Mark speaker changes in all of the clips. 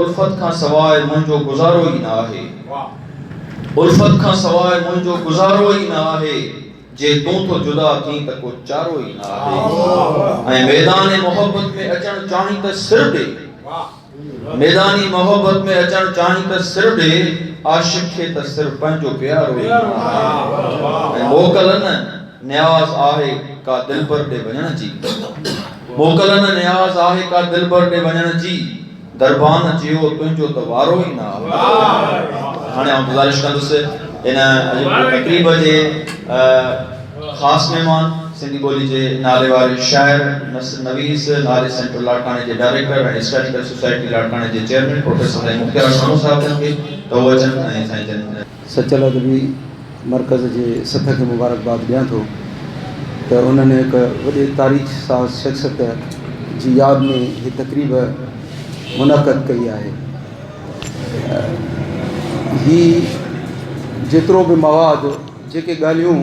Speaker 1: الفت کان سواء منهنجو گذارو ئي نه آهي. الفت کان سواء منهنجو گذارو ئي نه آهي. جي تون ٿو جدا ٿين ته ڪو چارو ئي نه آهي. ۽ ميدان محبت ۾ اچڻ چاهين ته سر ڏي. ميدان محبت ۾ اچڻ چاهين ته سر ڏي. عاشق کي ته سر پنهنجو پيارو ئي نه آهي. ۽ موڪل نه نياز آهي ڪا دلبر ڏي وڃڻ جي. موڪل نه نياز آهي ڪا دلبر ڏي وڃڻ جي. دربان جيو تنهنجو ته وارو ئي نه آيو. هاڻي آئون گذارش ڪندس ان اڄ تقريب جي خاص مهمان سنڌي ٻولي جي ناليواري شاعر، نثر نويس، ناري سينٽر لاڙڪاڻي جي ڊائريڪٽر ۽ هسٽاريڪل سوسائٽي لاڙڪاڻي جي چيئرمين پروفيسر سائين مختيار سمون صاحب جن کي ته هو اچن ۽ سائين جن سچل ادبي
Speaker 2: مرڪز جي سٿ کي مبارڪباد ڏيان ٿو ته انهن هڪ وڏي تاريخ ساز شخصيت جي ياد ۾ هي تقريب منعقد ڪئي آهي هي جيترو به مواد جيڪي ڳالهيون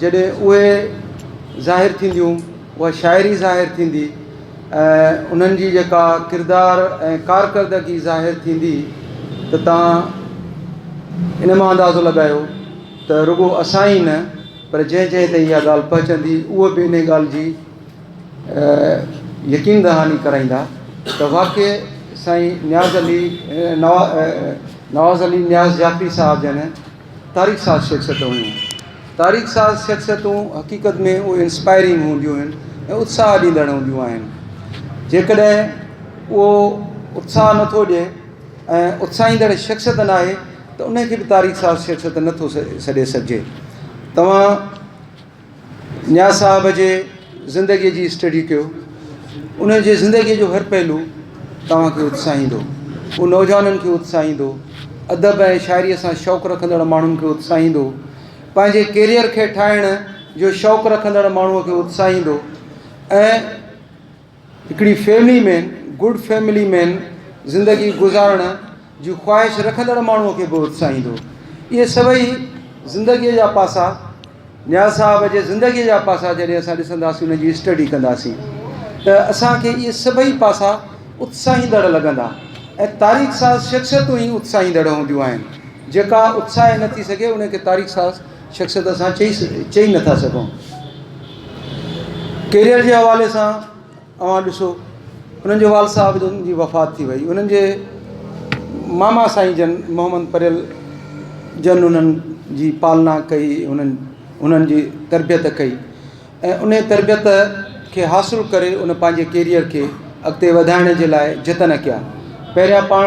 Speaker 2: جڏهن اهي ظاهر ٿينديون، اها شاعري ظاهر ٿيندي ۽ انهن جي جيڪا ڪردار ۽ ڪارڪردگي ظاهر ٿيندي ته تان ان مان اندازو لڳايو ته رڳو اسان ئي نه پر جنهن جنهن تائين اها ڳالهه پهچندي اهي به انهي ڳالهه جي يقين دهاني ڪرائيندا ته واقعي سائين نياز علي نواز علي نياز جعفري صاحب جن تاريخ ساز شخصيت هيون. تاريخ ساز شخصيتون حقيقت ۾ اهي انسپائرنگ هونديون آهن ۽ اتساهه ڏيندڙ هونديون آهن. جيڪڏهن اهو اتساهه نه ٿو ڏئي ۽ اتساهيندڙ شخصيت نه آهي ته ان کي به تاريخ ساز شخصيت نه ٿو سڏي سگهجي. توهان نياز صاحب جي زندگيء جي اسٽڊي ڪيو. ان جي زندگيء جو هر پهلو توهان کي اتساهيندو. هو نوجوانن کي اتساهيندو، ادب ۽ شاعريء سان شوق رکندڙ ماڻهن کي اتساهيندو، پنهنجي ڪيريئر کي ٺاهڻ جو شوق رکندڙ ماڻهوء کي اتساهيندو ۽ هڪڙي family man, Good Family Man، زندگي گذارڻ جي خواهش رکندڙ ماڻهوء کي به اتساهيندو. اهي سڀئي زندگيء جا پاسا، نياز صاحب جي زندگيء جا پاسا جڏهن اسان ڏسنداسين، انهن جي اسٽڊي ڪنداسين ته اسان کي اهي سڀئي پاسا اتساهيندڙ لڳندا ۽ تاريخ ساز شخصيتون ئي اتساهيندڙ هونديون آهن. جيڪا اتساهي نه ٿي سگهي، ان کي تاريخ ساز شخصيت اسان چئي چئي نٿا سگهون. ڪيريئر جي حوالي سان اوهان ڏسو انهن جو والد صاحب جن جي وفات ٿي وئي انهن جي ماما سائين جن محمد پريل جن انهن جي پالنا ڪئي انهن انهن جي تربيت ڪئي ۽ ان تربيت کي حاصل ڪري ان پنهنجي ڪيريئر کي اڳتي وڌائڻ جي لاء جتن ڪيا پهريان پاڻ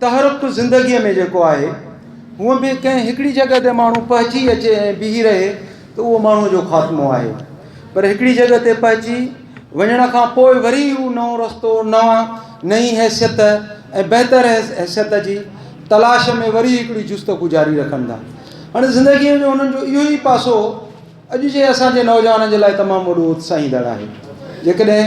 Speaker 2: تحرڪ زندگيء ۾ جيڪو آهي، هونء به ڪنهن هڪڙي جڳهه تي ماڻهو پهچي اچي ۽ بيهي رهي ته اهو ماڻهوء جو خاتمو آهي. پر هڪڙي جڳهه تي پهچي وڃڻ کان پوء وري هو نئون رستو، نوان، نئين حيثيت ۽ بهتر حيثيت جي تلاش ۾ وري هڪڙي جستجو جاري رکن ٿا. هن زندگيء جو هنن جو اهو ئي پاسو اڄ جي اسان جي نوجوانن جي لاء تمام وڏو اتساهيندڙ آهي. جيڪڏهن.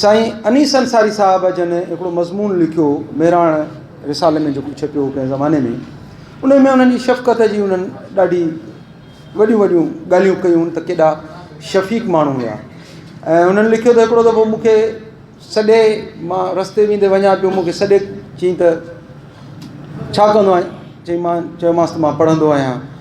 Speaker 2: سائين انيس انصاري صاحب جن هڪڙو مضمون لکيو مهراڻ رسالي ۾ جيڪو ڇپيو هو ڪنهن زماني ۾ ان ۾ انهن جي شفقت جي انهن ڏاڍي وڏيون وڏيون ڳالهيون ڪيون ته ڪيڏا شفيق ماڻهو هيا ۽ انهن لکيو ته هڪڙو دفعو مون کي سڏي مان رستي ويندي وڃان پيو مون کي سڏي چئين ته ڇا ڪندو آهين چئين مان چيومانس ته مان پڙهندو آهيان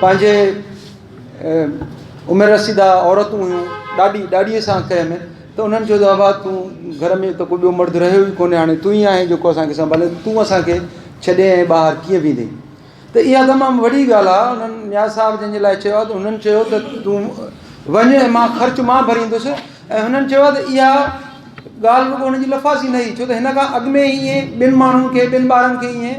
Speaker 2: پنهنجي عمر رسيده عورتون هيون ڏاڏي ڏاڏيء سان ڪنهن ۾ ته انهن چيو ابا تون گهر ۾ ته ڪو ٻيو مرد رهيو ئي ڪونهي هاڻي تون ئي آهين جيڪو اسانکي سنڀالي تون اسانکي ڇڏي ائين ٻاهر ڪيئن ويندين ته اها تمام وڏي ڳالهه آهي انهن نياز صاحب جنهنجي لاء چيو آهي ته انهن چيو ته تون وڃ مان خرچ مان ڀريندس ۽ انهن چيو آهي ته اها ڳالهه رڳو انهن جي لفاظي نه هئي ڇو ته هن کان اڳ ۾ هي ٻن ماڻهن کي ٻن ٻارن کي ائين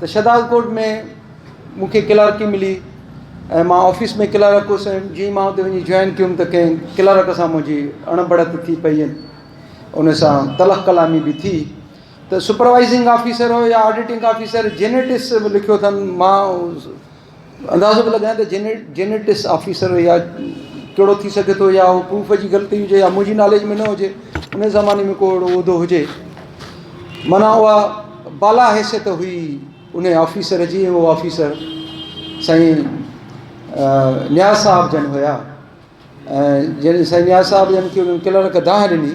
Speaker 2: ته شھداد ڪوٽ ۾ مون کي ڪلارڪي ملي ۽ مان آفيس ۾ ڪلارڪ ھوس ۽ جيئن ئي مان اتي وڃي جوائن ڪيم ته ڪنھن ڪلارڪ سان منھنجي اڻ بڙت ٿي پئي ۽ ان سان تلخ ڪلامي به ٿي ته سپروائزنگ آفيسر ھو يا آڊيٽنگ آفيسر جينيٽس به لکيو اٿن مان اندازو ٿو لڳائين ته جينيٽس آفيسر يا ڪهڙو ٿي سگهي ٿو يا اهو پروف جي غلطي هجي يا منهنجي ناليج ۾ نه هجي ان زماني ۾ ڪو اهڙو عهدو هجي معنيٰ اها بالا حيثيت هئي ان آفيسر جي ۽ اهو آفيسر سائين نياز صاحب جن هيا ۽ جن سائين نياز صاحب جن کي انهن ڪلرڪ دانهن ڏني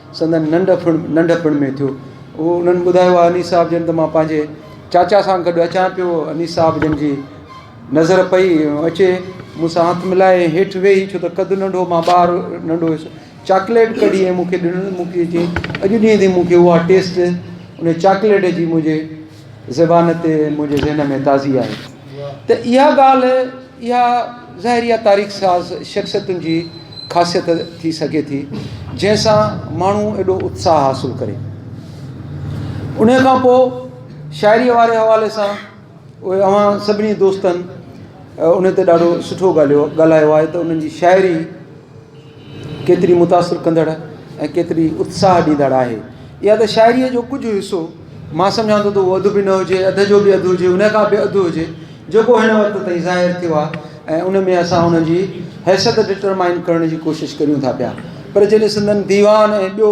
Speaker 2: سندن ننڍپڻ ننڍپڻ ۾ ٿيو. اهو انهن ٻڌايو آهي انيس صاحب جن ته مان پنهنجي چاچا سان گڏ اچان پيو. انيس صاحب جن جي نظر پئي اچي مون سان هٿ ملائي ۽ هيٺ ويهي ڇو ته قد ننڍو مان ٻار ننڍو هيس چاڪليٽ ڪڍي ۽ مون کي ڏنو ۽ مون کي چيائين اڄ ڏينهن تائين مون کي اها ٽيسٽ ان چاڪليٽ جي منهنجي زبان تي منهنجي ذهن ۾ تازي آهي ته اها ڳالهه اها زهريه تاريخ ساز شخصيتن جي خاصيت ٿي سگهي ٿي، جنهن سان ماڻهو ايڏو اتساهه حاصل ڪري. انهيء کان پوء شاعريء واري حوالي سان اهي اوهان سڀني دوستن انهيء تي ڏاڍو سٺو ڳالهيو ڳالهايو آهي ته انهن جي شاعري ڪيتري متاثر ڪندڙ ۽ ڪيتري اتساهه ڏيندڙ آهي. اها ته شاعريء جو ڪجهه حصو، مان سمجهان ٿو ته اهو اڌ به نه هجي، اڌ جو به اڌ هجي، ان کان به اڌ هجي، جيڪو هن وقت تائين ظاهر ٿيو آهي ۽ ان ۾ اسان ان جي حيثيت ڊٽرمائن ڪرڻ جي ڪوشش ڪريون ٿا پيا. پر جڏهن سندن ديوان ۽ ٻيو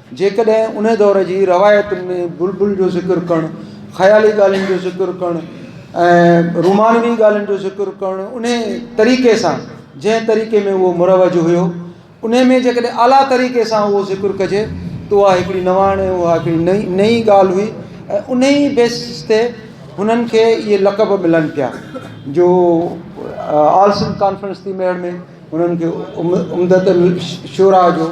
Speaker 2: جيڪڏهن انهيء دور جي روايتن ۾ بلبل جو ذڪر ڪرڻ، خيالي ڳالهين جو ذڪر ڪرڻ ۽ رومانوي ڳالهين جو ذڪر ڪرڻ انهيء طريقي سان جنهن طريقي ۾ اهو مروج هيو انهيء ۾ جيڪڏهن اعليٰ طريقي سان اهو ذڪر ڪجي ته اها هڪڙي نواڻ ۽ اها هڪڙي نئي نئي ڳالهه هئي ۽ انهيء بيسس تي هنن کي اهي لقب ملن پيا جو آل سنڌ ڪانفرنس ٿي مهڙ ۾ هنن کي عمدة الشعراء جو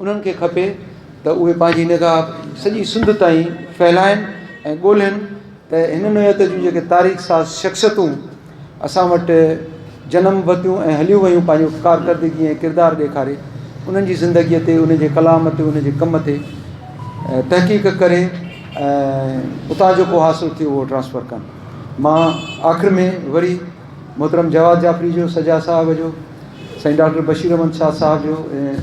Speaker 2: انهن کي کپي ته اهي پنهنجي نگاهه سڄي سنڌ تائين ڦهلائن ۽ ڳولهين ته هن نوعيت جون جيڪي تاريخ ساز شخصيتون اسان وٽ جنم ورتيون ۽ هليون ويون پنهنجو ڪارڪردگي ۽ ڪردار ڏيکاري انهن جي زندگيء تي انهن جي ڪلام تي انهن جي ڪم تي تحقيق ڪري ۽ اتان جيڪو حاصل ٿيو اهو ٽرانسفر ڪن مان آخر ۾ وري محترم جواد جعفري جو، سجا صاحب جو، سائين ڊاڪٽر بشير احمد شاهه صاحب جو ۽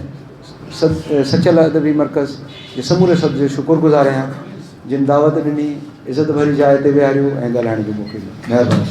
Speaker 2: سد سچل ادبي مرڪز جي سموري سد جو شڪر گذار آهيان جن دعوت ڏني، عزت ڀري جاء تي ويهاريو ۽ ڳالهائڻ جو موقعو ڏنو. مهرباني.